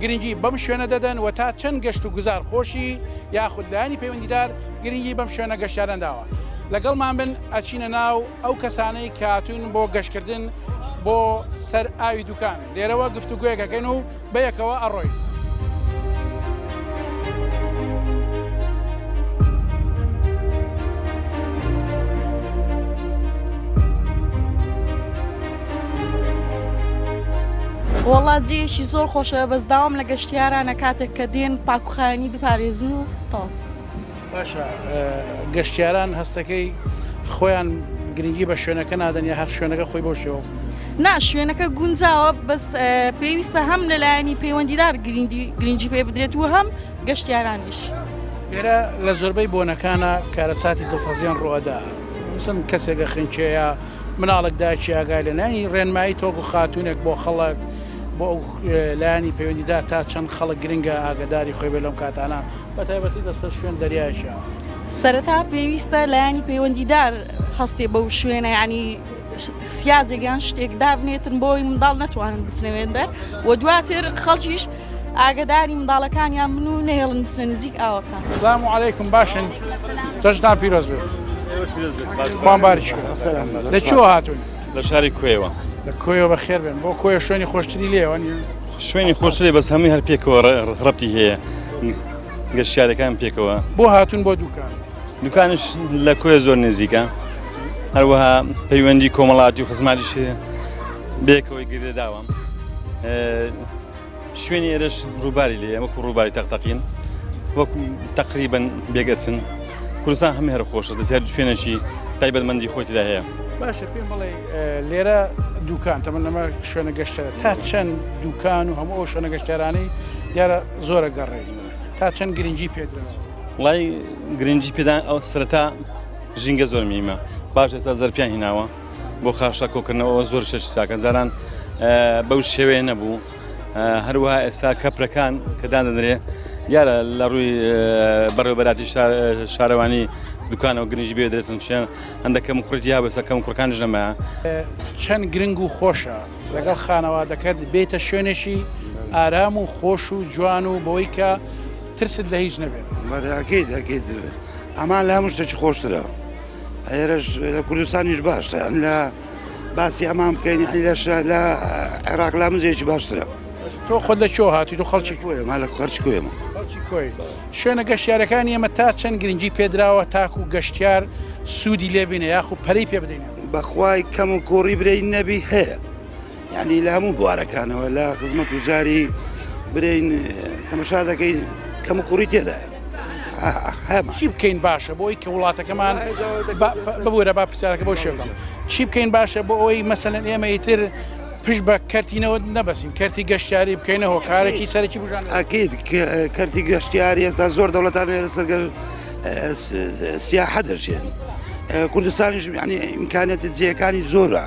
گرنگی بەم شوێنە دەدەن و تا چەند گەشت و گوزار خۆشی یاخود لایەنی پەیوەندیدار گرنگی بەم شوێنە گەشتیاران داوە لەگەڵمان بن ئەچینە ناو ئەو کەسانەی کە هاتوون بۆ گەشتکردن بۆ سەر ئاوی دوکان لێرەوە گفتوگویەکەکەن و بەیەکەوە ئەڕۆین. وەڵا جێیەکی زۆر خۆشە بەس داوام لە گەشتیارانە کاتێک کە دێن پاکوخایانی بپارێزن و تاو باشە گەشتیاران هەستەکەی خۆیان گرنگی بە شوێنەکە نادەن یا هەر شوێنەکە خۆی بۆ شێوە نا شوێنەکە گونجاوە بەس پێویستە هەم لەلایەنی پەیوەندیدار گرنگی گرنگی پێ بدرێت و هەم گەشتیارانیش ئێرە لە زۆربەی بۆنەکانە کارەساتی دڵتەزیان ڕوەدا چەند کەسێکە خنکێە مناڵێک دایکی ئاگای لە نانی ڕێنمایی تۆک و خاتوونێک بۆ خەڵک بۆ ئەو لایانی پەیوەندیدار تا چەند خەڵک گرنگە ئاگداری خۆی بێ لەم کاتانە بە تایبەتی دەستە شوێن دەریاشە. سەرەتا پێویستە لایەنی پەیوەندیدار هەستێ بەو شوێنە ینی سیازێک یان شتێک دابنێتن بۆی منداڵ نەتوانن بچنەوێن دەر و دواتر خەڵکیش ئاگداری منداڵەکانیان من و نێڵن بچنە نزیک ئاوەکە سلام و عیکم باشن تەشدان پیرۆز بێت لە چۆ هاتون لە شاری کوێوە لە کۆیەوە بە خێر بن بۆ کۆیە شوێنی خۆشتری لێوە شوێنی خۆشتری بەس هەمووی هەر پێکەوە ڕەتی هەیە گەشتارەکان پێکەوە بۆ هاتون بۆ دوکان دوکانش لە کۆیە زۆر نزیکە هەروەها پەیوەندی کۆمەڵاتی و خزماتیش بێکەوەی گردێداوە شوێنی ئێرش ڕووباری لێ ئەمە ڕووباری تەقتەقین وەک تقریبن بێگەچن کوردستان هەم هەر خۆشە دەزیاد شوێنێکی تایبەتمەندی خۆتیدا هەیە باشە پێم بڵێ لێرە دوکان تەمە نەمە شوێنە گەشتە تا چەند دوکان و هەموو ئەو شوێنە گەشتارانی دیارە زۆرە گەڕێ تا چەند گرنگی پێدا وڵی گرنگی پێدان ئەو سرەتا ژینگە زۆر میمە باش ئێستا زەرفیان هیناوە بۆ خاشە کۆکردنەوە زۆر شەش ساکەن جاران بەو شێوەیە نەبوو هەروەها ئێستا کەپرەکان کە دادەنرێ دیارە لە ڕووی بەڕێوبەراتی شارەوانی دوکانەوە گرنج بێدرێتن شوێن هەندەکەم کوڕێتی یا بەسەکەم کوڕکانش نەمە چەند گرنگ و خۆشە لەگەڵ خانەوادەکەت بێتە شوێنێکی ئارام و خۆش و جوان و بۆی کە ترست لە هیچ نەبێت بەراکەیت ئەکەیت ئەمان لە هەموو شتێکی خۆشترە. ئێرەش لە کوردستانیش باشە لە باسی ئەمان بکەین لەش لە عێراق لا مزێکی باشترە تۆ خۆ لە چۆ هاتی تۆ خەڵکی کوێ ما لە خەرچ کوێمە شوێنە گەشتارەکان ئێمە تا چەند گرنگی پێدراوە تاکو و گەشتیار سوودی لێبینە یاخو پەری پێ بدەین بەخوای کەم و کۆڕی برەی نەبی هەیە یانی لە هەموو بوارەکانەوە لە خزمەت و جاری برین تەمەشا دەکەین کەم و کوڕی تێدایە چی بکەین باشە بۆی کە وڵاتەکەمان ببوورە با پرسیارەکە بۆ شێڵم چی بکەین باشە بۆ ئەوەی مەسەن ئێمە ئیتر پشت بە کەرتینەوە نەبەسین کەرتی گەشتیاری بکەینە هۆکارێکی سەرکی بژان ئەکیید کەرتی گەشتیاری ئێستا زۆر دەوڵەتان لەسەرگەر سیاحە دەژێن کوردستانیش ینی ئیمکانێتی جێەکانی زۆرە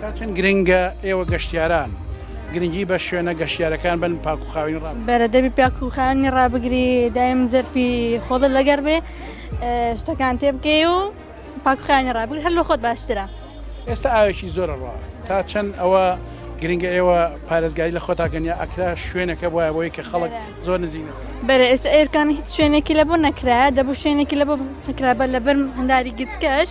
تا چەند گرنگە ئێوە گەشتیاران گرنگی بە شوێنە گەشتیارەکان بن پاکوخاوین ڕام بەرە دەبی پاکوخانی ڕابگری دایم زەرفی خۆڵە لەگەر بێ شتەکان تێ بکەی و پاکخانی ڕابگر هەر لە خۆت باشترە ئێستا ئاوێکی زۆرە ڕوا تا چەند ئەوە گرنگە ئێوە پارێزگاری لە خۆتاگەنیا ئەکرا شوێنەکە وایە بۆی کە خەڵک زۆر نزیک بەرە ئێستا ئێرکان هیچ شوێنێکی لە بۆ نەکرایە دەبوو شوێنێکی لە بۆ نکرابە لە بەرم هەنداری گچکەش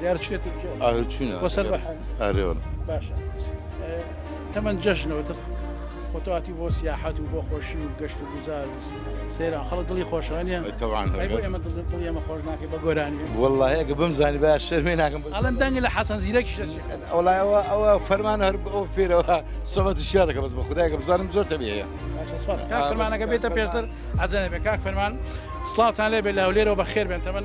دیار چێ تورکیا ئاهر چوونە بۆ سەر بەحر ئارێوە باشە تەمەن جەژنەوە تر خۆتواتی بۆ سیاحەت و بۆ خۆشی و گەشت و گوزار و سێرا خەڵک دڵی خۆشانە تەوان ئێمە دڵی ئەمە خۆش ناکەی بە گۆرانی وڵایەکە بم زانی با شەرمێ ناکەم ئەڵم دەنگی لە حەسەن زیرەکی ئەوڵایەوە ئەوە فەرمان هەر ئەو فێرەوە سەبەت و شیا دەکە بەس بە خدایکە بزانم زۆر تەبیەیە فەرمانەکە بێتە پێشتر عجەنە بێ کاک فەرمان سلااوان لێ بێ لە هەولێرەوە بە خێر بێن تەمەن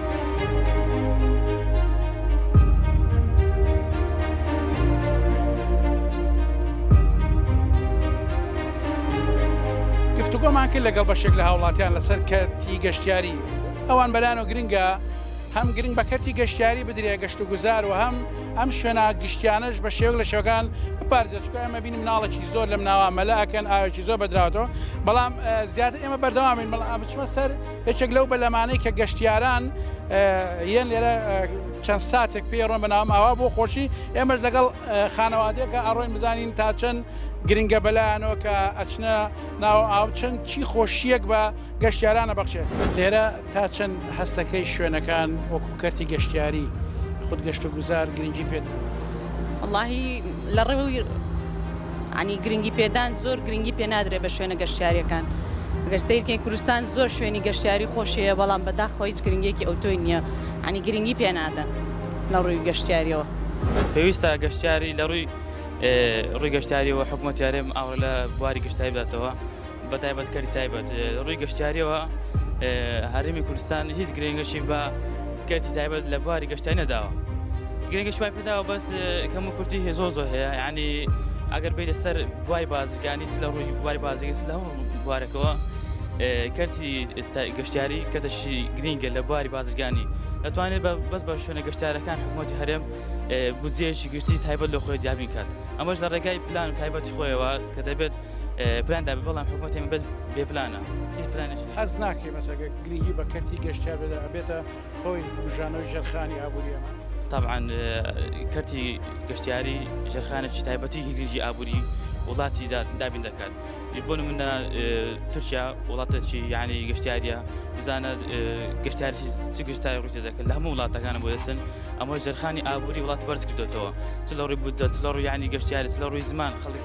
گفتوگۆمان کرد لەگەڵ بەشێک لە هاوڵاتیان لەسەر کەرتی گەشتیاری ئەوان بەلانەوە گرنگە هەم گرنگ بە کەرتی گەشتیاری بدرێ گەشت و گوزار و هەم ئەم شوێنە گشتیانەش بە شێوک لە شەکان بپارێزە چکە ئەمە بین مناڵێکی زۆر لەم ناوە مەلاکەن ئاوێکی زۆر بەدراوەتەوە بەڵام زیاتر ئێمە بەردەوامین بەڵام بچمە سەر یەکێک لەو بەلەمانەی کە گەشتیاران یەن لێرە چەند ساتێک پێ ڕۆن بەناوم ئاوا بۆ خۆشی ئێمەش لەگەڵ خانەوادەکە ئەڕۆین بزانین تا چەند گرنگە بەلایەنەوە کە ئەچنە ناو ئاو چەند چی خۆشیەک بە گەشتیارانە بەخشێت لێرە تا چەند هەستەکەی شوێنەکان وەکو کەرتی گەشتیاری خود گەشت و گوزار گرنگی پێدا. اللهی لە ڕێوی عنی گرنگی پێدان زۆر گرنگی پێ نادرێت بە شوێنە گەشتیاریەکان گەر سیرکە کوردستان زۆر شوێنی گەشتیاری خۆشەیە بەڵام بەداخۆ هیچ گرنگێکی ئەوتۆی نییە عنی گرنگی پێ نادەن لە ڕووی گەشتیاریەوە پێویستە گەشتیاری لە ڕووی ڕووی گەشتاریەوە حکوومەتیارێم ئاوە لە بواری گەشتای بداتەوە. بە تایبەت کەری تایبەت ڕووی گەشتیاریەوە هەرمی کوردستان هیچ گرنگەشی بە کەرتی تایبەت لە بواری گەشتای نەداوە گرنگش پای پێداوە بەس کەم و کورتی هێزۆ زۆر هەیە ینی ئەگەر بێت لەسەر بواری بازرگانی لە ڕووی بواری بازرگەس لە هەموو بوارەکەەوە کەرتی گەشتیاری کەتەشی گرنگە لە بواری بازرگانی دەتوانێت بەس بە شوێنە گەشتارەکان حکوومەتی هەرێم بودجێشی گشتی تایبەت لە خۆی دیابین کات ئەمەش لە ڕێگای پلان تایبەتی خۆیەوە کە دەبێت پلان دابێ بەڵام حکوومەتی بەس بێ پلانە هیچ پلانش حەز ناکەی مەسەگە گرنگی بە کەرتی گەشتیا بێدا ئەبێتە هۆی بژانەوەی ژەرخانی ئابووریە طبعاان کەرتی گەشتیاری ژەرخانێکی تایبەتی گرنگی ئابووری وڵاتی دابین دەکات بۆ منە تورکیا وڵاتەکی یعنی گەشتیاریە بزانە گەشتاری چ گشتای ڕوتە دەکەن لە هەموو وڵاتەکانە بۆ دەسن ئەمە ژەرخانی ئابووری وڵات بەرز کردێتەوە چ لە ڕووی بودجە چ لە ڕوویانی گەشتیاری لە ڕووی زمان خەڵک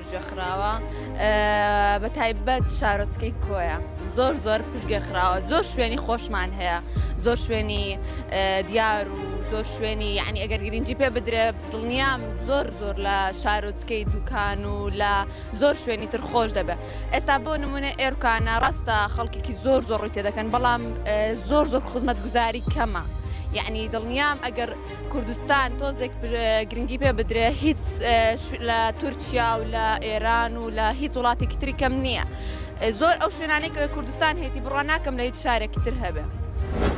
پشتگوێ خراوە بە تایبەت شارۆچکەی کۆیە زۆر زۆر پشتگوێ خراوە زۆر شوێنی خۆشمان هەیە زۆر شوێنی دیار و زۆر شوێنی یعنی ئەگەر گرنگجی پێ بدرێ دڵنیام زۆر زۆر لە شارۆچکەی دوکان و لە زۆر شوێنی تر خۆش دەبێت ئێستا بۆ نمونە ئێرکانە ڕاستە خەڵکیکی زۆر زۆر ڕووی تێ دەکەن بەڵام زۆر زۆر خزمەت گوزاری کەمە یعنی دڵنیام ئەگەر کوردستان تۆزێک گرنگی پێ بدرێ هیچ لە تورکیا و لە ئێران و لە هیچ وڵاتێکی تری کەم نییە زۆر ئەو شوێنانێک کوردستان هێتی بڕوان ناکەم لە هیچ شارێکی تر هەبێ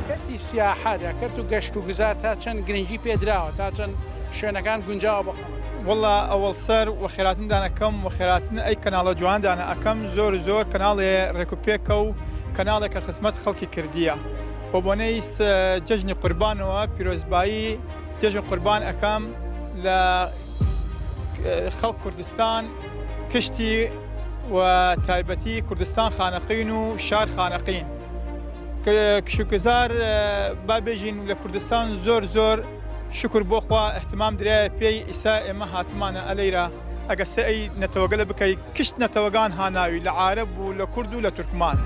کەتی سیاحە دەکرد و گەشت و گوزار تا چەند گرنگی پێدراوە تا چەند شوێنەکان گونجاوە بە خەڵک وڵا ئەوەڵ سەر و خێراتندان ئەەکەم و خێراتن ئەی کەناڵە جوواندانە ئەەکەم زۆر زۆر کەناڵێ ڕێکوپێکە و کەناڵێکە خزمەت خەڵکی کردیە. بەبۆنەی جەژنی قوربانەوە پیرۆزبایی جەژن قوربان ئەکەم لە خەڵک کوردستان کشتی و تایبەتی کوردستان خانەقین و شار خانەقین کشکزار بابێژین لە کوردستان زۆر زۆر شکر بۆخوا احتمام درایە پێی ئیسا ئێمە هاتمانە ئەلەیرا ئەگە سەعی نەتەوەگەلە بکەی کشت نەتەوەگان هاناوی لە عارەب و لە کورد و لە تورکمان.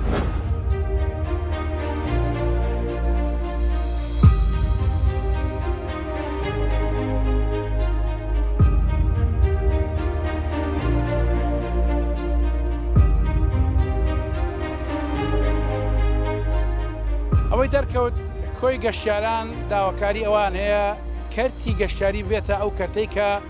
ئەوەی دەرکەوت کۆی گەشتیاران داواکاری ئەوان هەیە کەرتی گەشتیاری بێتە ئەو کەرتەی کە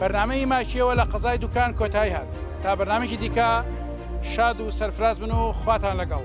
بەرنامەی ئی ماکیەوە لە قەزای دوکان کۆتایی هات تا بەرنامەیەکی دیکە شاد و سەرفراز بن و خواتان لەگەڵ.